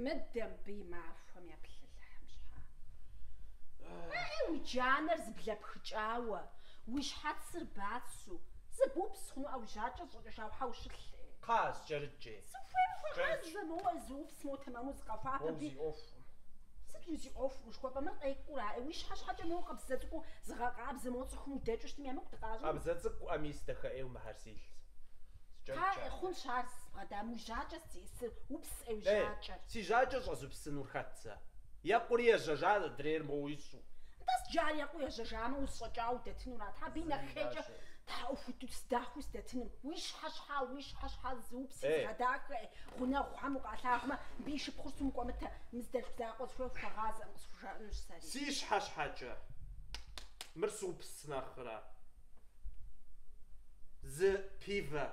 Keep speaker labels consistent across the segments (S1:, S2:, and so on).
S1: Мыдэ мыбы и махуэм еплъ Алыхьым щхьа? Ай, уи джанэр зыблэпхыкӏауэ, уи щхьэцыр бацу, зыбупс хъуну ӏэ, уи жьакӏэр зэщӏэкӏэжауэ хьэу щылъ. Кхъа,
S2: скӏэрыкӏкӏи.
S1: Сыхуейм. Ӏэ, зэ моуэ зыупс. Моуэ тэмэму зыкъэхуапэ. Уэ ди. узиӏуэхукъым. Сыт уи зи ӏуэху? Ушхуэпӏэ мыр къекӏура? Э, уи щхьэ щхьэкӏэ моуэ къабзэ цӏыкӏуу зыгъэкъабзэ, мо цӏыхум удэкӏыу щытмэ емыкӏу дыкъащӏыну? Къабзэ цӏыкӏуӏэ мис,
S2: дахэ ӏейуэ мыхьэрсилъ. Кхъа, скӏэрыкӏкӏэ
S1: э, хъунщ ар зыпбгъэдам, уи жьакӏэ сдиӏысыр, упс э, уи Э, жьакӏэр. си жьакӏэ щӏэзупсынур
S2: хэт сэ? Екъури ежьэжащ адрейр моуэ ищӏу. Нтӏэ, иджы
S1: ар екъуу ежьэжамэ, узэщӏэкӏауэ удэтыну ара? Тхьэ, абы и нэхъейкӏэ тхьэӏухуду сдахэу сдэтыным. Уи щхьэ щхьа, уи щхьэ щхьа, зыупси зыгъэдахэ, ӏей, гъунэгъухэм укъалъагъумэ, абы и шыпхъур сыту мыкӏуэмытэ, мы зы дэлъху закъуэ зыхуей хуэгъазэкъым, къысхужаӏэнущ сэри. Си щхьэ
S2: щхьэкӏэ! Мыр супс нэхърэ. Зы пивэ,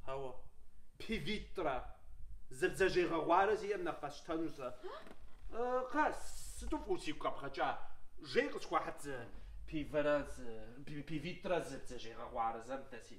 S2: хьэуэ, пивитӏрэ, зы бдзэжьей гъэгъуарэ сиӏэм нэхъ къэсщтэну сэ. Кхъэ, сыту фӏыуэ сигу къэбгъэкӏа, жэи къысхуэхьыт зы пивэрэ, зы пивитӏрэ, зы бдзэжьей гъэгъуарэ зэ мыдэ си.